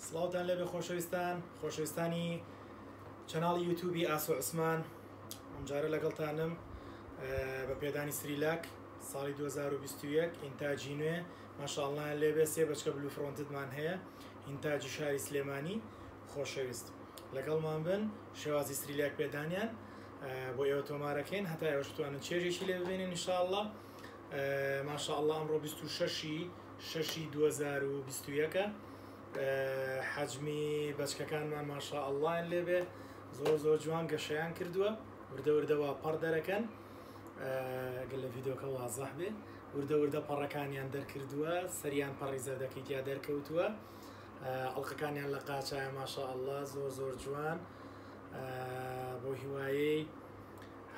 سڵاوتان لێبێ خۆشەویستان خۆشەویستانی چەناڵی یوتوبی ئاسۆ عوسمان ئەمجارە لەگەڵتانم بە پێدانی سریلاک ساڵی 2021 ئینتاجی نوێ ماشاءڵیان لێبێ سێ بەچکە بلو فرۆنتدمان هەیە ئینتاجی شاری سلێمانی خۆشەویست لەگەڵمان بن شێوازی سریلاک پێدانیان بۆ ئێوە تۆمارەکەین هەتا ئێوەشتوانن چێژێکی لێ ببێنین نیشاءله ماشاءله ئەمڕۆ 26 شەش ی دوو هەزار و بیست و یەک ە حەجمی بەچکەکانمان ماشاء اللەیان لێبێ زۆر زۆر جوان گەشەیان کردووە وردە وردە وا پەڕ دەرەکەن گەر لە ڤیدۆکە وازەح بێ وردە وردە پەڕەکانیان دەرکردووە سەریان پەڕی زەردەکەی تیا دەرکەوتووە ئەڵلقەکانیان لە قاچایە ماشاء اللە زۆر زۆر جوان بۆ هیوایەی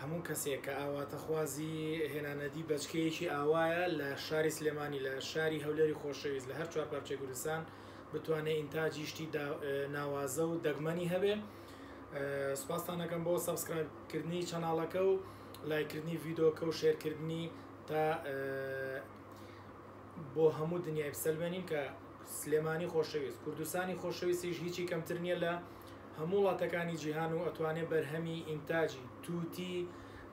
هەموو کەسێک کە ئاواتەخوازی هێنانەدی بەچکەیەکی ئاوایە لە شاری سلێمانی لە شاری هەولێری خۆشەویست لە هەر چوار پارچەی کوردستان بتوانێ ئینتاجی شتی ناوازە و دەگمەنی هەبێ سوپاستان ئەکەم بۆ سەبسکرایب کردنی چەناڵەکە و لایکردنی ڤیدۆکە و شێرکردنی تا بۆ هەموو دنیای بسەلمێنین کە سلێمانی خۆشەویست کوردستانی خۆشەویستیش هیچی کەمتر نییە لە هەموو وڵاتەکانی جیهان و ئەتوانێ بەرهەمی ئینتاجی تووتی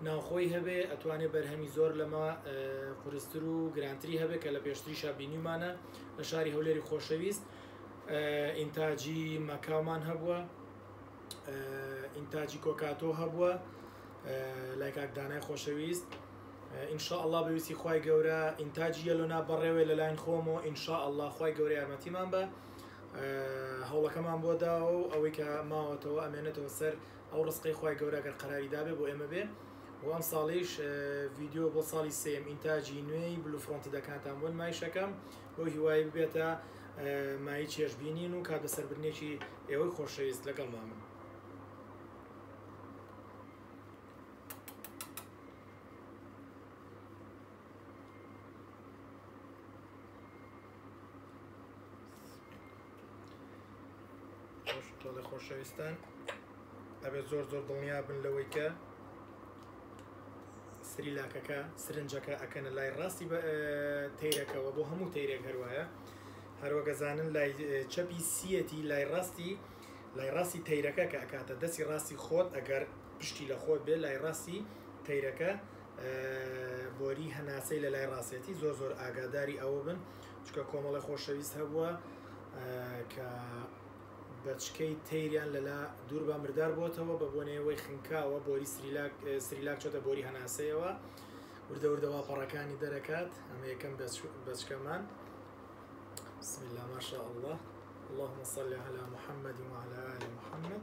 ناوخۆی هەبێ ئەتوانێ بەرهەمی زۆر لەمە قورستر و گرانتری هەبێ کە لە پێشتریشا بینیمانە لە شاری هەولێری خۆشەویست ئینتاجی مەکاومان هەبووە ئینتاجی کۆکاتۆ هەبووە لای کاک دانای خۆشەویست ئینشاء الله بەویستی خوای گەورە ئینتاجی یەلۆنا بەڕێوێ لەلاین خۆمەوە ئینشاء الله خوای گەورە یارمەتیمان بە هەوڵەکەمان بۆ داوە و ئەوەی کە ماوەتەوە ئەمێنێتەوە سەر ئەو ڕستقەی خوای گەورە گەر قەراری دابێ بۆ ئێمە بێ و ئەم ساڵیش ڤیددیو بۆ ساڵی سێم ئینتاجی نوێی بلو فڕۆنتی دەکاتان بۆ نمایشەکەم بۆ هیوای ببێتە مای چێژبینین و کات بەسەربرنێکی ئێوەی خۆشەویست لەگەڵ مامن تۆڵی خۆشەویستان ئەبێت زۆر زۆر دڵنیا بن لەوەی کە سری لاکەکە سرنجەکە ئەکەنە لای ڕاستی تیرەکەەوە بۆ هەموو تیرێک هەروایە هەروەگەزانن لای چەپی سیەتی لای ڕاستی لای ڕاستی تیرەکە کە ئەکاتە دەستی ڕاستی خۆت ئەگەر پشتی لە خۆت بێ لای ڕاستی تیرەکە بۆری هەناسەی لە لای ڕاستێتی زۆر زۆر ئاگاداری ئەوە بن چکە کۆمەڵی خۆشەویست هەبووە کە بەچکەی تەیریان لەلا دوور بە مردار بۆتەوە بە بۆنەوەی خنکاوە بۆری سریلاک سریلاک چۆتە بۆری هەناسەیەوە وردەوردەوا پەڕەکانی دەرەکات ئەمە یەکەم بەچکەمان بسم الله ما شاء الله اللهم صل على محمد وعلى آل محمد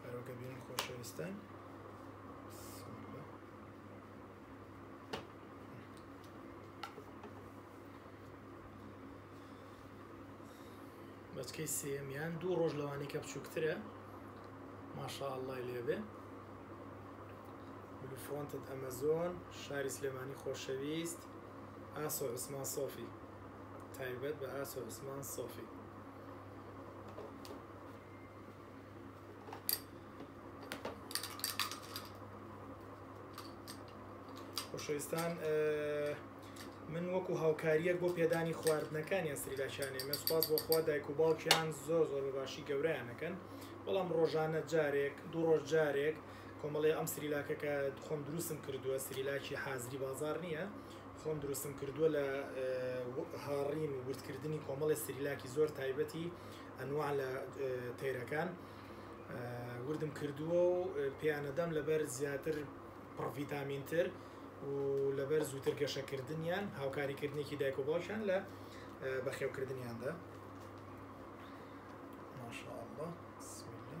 بەرۆکە بینی خۆشەویستان بەچکەی سێمیان دوو ڕۆژ لەوانی کە بچووکترە ماشاء الله لێبێ فرۆنتت ئەمەزۆن شاری سلێمانی خۆشەویست ئاسۆ عوسمان سۆفی تایبەت بە ئاسۆ عوسمان سۆفی خۆشەویستان من وەکو هاوکاریەک بۆ پێدانی خواردنەکان یان سریلاکیانێ من سپاس بۆ خوا دایک و باوکیان زۆر زۆر بە باشی گەورەیانەکەن بەڵام ڕۆژانە جارێک دوو ڕۆژ جارێک کۆمەڵی ئەم سریلاکەکە خۆم دروستم کردووە سریلاکی حازری بازار نییە خۆم دروستم کردووە لە هاڕین و وردکردنی کۆمەڵی سریلاکی زۆر تایبەتی ئەنوا لە تەیرەکان وردم کردووە و پێیانەدەم لەبەر زیاتر پڕڤیتامینتر و لەبەر زووتر گەشەکردنیان هاوکاریکردنێکی دایک و باوکیان لە بەخێوکردنیاندا ماشاءالله بسم الله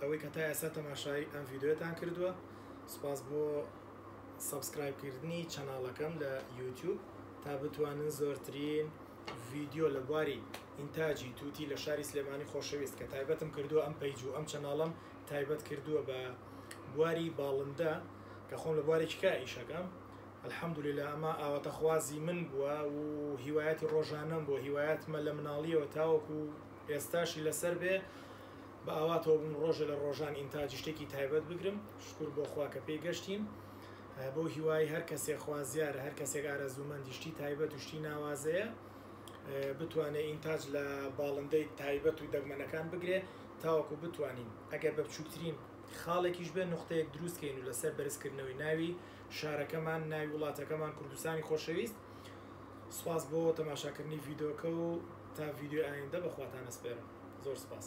ئەوەی کە تا ئێستا تەماشای ئەم ڤیدیۆیەتان کردووە سوپاس بۆ سەبسکرایب کردنی چەناڵەکەم لە یوتیوب تا بتوانن زۆرترین ڤیدیۆ لە بواری ئینتاجی تووتی لە شاری سلێمانی خۆشەویست کە تایبەتم کردووە ئەم پەیج و ئەم چەناڵم تایبەت کردووە بە بواری باڵندە کە خۆم لە بواری چکا ئیشەکەم الحەمدوللا ئەمە ئاواتەخوازی من بووە و هیوایەتی ڕۆژانەم بۆ هیوایەتمە لە مناڵیەوە تاوەکو ئێستاشی لەسەر بێ بە ئاواتەوە بووم ڕۆژێ لە ڕۆژان ئینتاجی شتێکی تایبەت بگرم شکور بۆ خوا کە پێی گەشتین بەو هیوای هەر کەسێک خوازیارە هەر کەسێک ئارەزوومەندی شتی تایبەت و شتی ناوازەیە بتوانێت ئینتاج لە باڵندەی تایبەت و دەگمەنەکان بگرێ تاوەکو بتوانین ئەگەر بە بچووکترین خاڵێکیش بێ نقطەیەک دروستکەین و لەسەر بەرزکردنەوەی ناوی شارەکەمان ناوی وڵاتەکەمان کوردستانی خۆشەویست سوپاس بۆ تەماشاکردنی ڤیدۆکە و تا ڤیدیۆی ئایندە بەخواتان ئەسپێرم زۆر سوپاس.